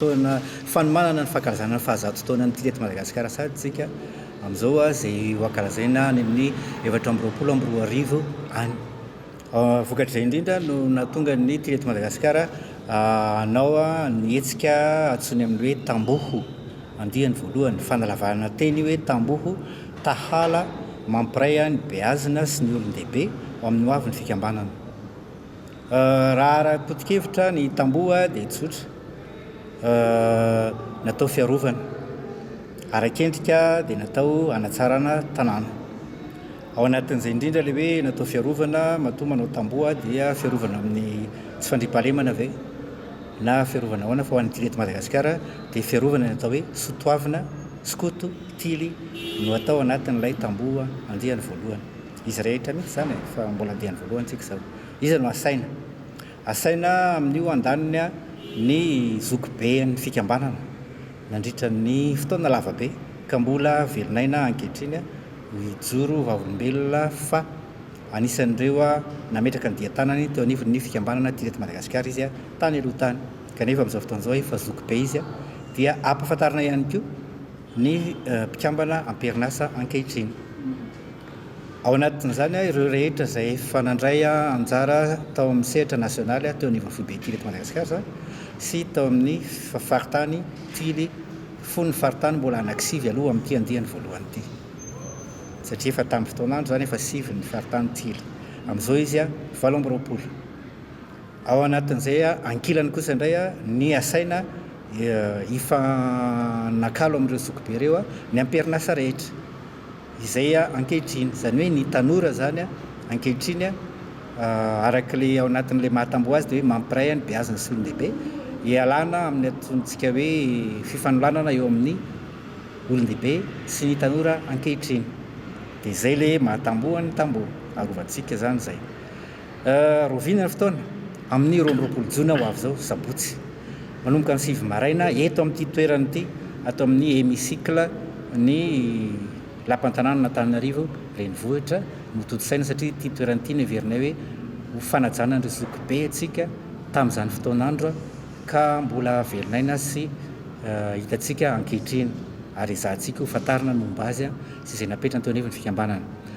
Fotoana fanomanana ny fankalazana ny fahazato taonan'ny Tia eto Madagasikara sahady isika amin'izao izay ho ankalazaina any amin'ny efatra amby roapolo amby roa arivo any. Vokatr'izay indrindra no nahatonga ny Tia eto Madagasikara hanao ny hetsika antsoiny amin'ny hoe Tamboho, andiany voalohany, fanalavarana teny hoe Tamboho, Tahala, mampiray ny beazina sy ny olon-dehibe ho amin'ny hoavin'ny fikambanana. Raha ara-potokevitra ny tamboho dia tsotra, natao fiarovana, ara-kendrika dia natao hanatsarana tanàna. Ao anatin'izay indrindra ilay hoe natao fiarovana, matoa manao tamboho dia fiarovana amin'ny tsy fandriampahalemana ve na fiarovana ahoana fa ho an'ity eto Madagasikara dia fiarovana ny atao hoe sotoavina, skoto, tily no atao anatin'ilay tamboho andiany voalohany. Izy rehetra mihitsy izany e, fa mbola diany voalohany tsika izao. Iza no asaina? Asaina amin'io andaniny ny zokiben'ny fikambanana nandritra ny fotoana lava be ka mbola velon'aina ankehitriny hijoro ho vavolombelona fa anisan'ireo nametraka ny dian-tanany teo anivon'ny fikambanana teto Madagasikara izy tany aloha tany kanefa amin'izao fotoana izao efa zokibe izy dia ampahafantarina ihany koa ny mpikambana am-perinasa ankehitriny. Ao anatin'izany an, ireo rehetra izay efa nandray anjara tao amin'ny sehatra nasionaly teo anivon'ny foibe Tily eto Madagasikara sy tao amin'ny faritany Tily fony ny faritany mbola anankisivy aloha amin'ity andiany voalohany ity satria efa tamin'ny fotoan'andro izany efa sivy ny faritany Tily. Amin'izao izy an, valo amby roapolo. Ao anatin'izay an, ankilany kosa indray an, ny asaina hifanakalo amin'ireo zokibe ireo an, ny amperin'asa rehetra. izay ankehitriny, izany hoe ny tanora izany ankehitriny araka ilay ao anatin'ilay maha tamboho azy dia hoe mampiray ny beazina sy olon-dehibe hialana amin'ny antontsika hoe fifanolanana eo amin'ny olon-dehibe sy ny tanora ankehitriny dia izay ilay maha tamboho ny tamboho arovantsika izany izay Rovina ny fotoana, amin'ny roa amby roapolo jona ho avy izao, sabotsy, manomboka ny sivy maraina, eto amin'ity toerana ity, ato amin'ny Hémicycle ny Lapan'ny tanànan'Antananarivo renivohitra no tontosaina satria ity toerana ity no heverinay hoe ho fanajana an'ireo zokibe antsika tamin'izany fotoan'andro ka mbola velon'aina sy hitantsika ankehitriny ary ezahantsika ho fantarina ny momba azy sy izay napetrany teo anivon'ny fikambanana.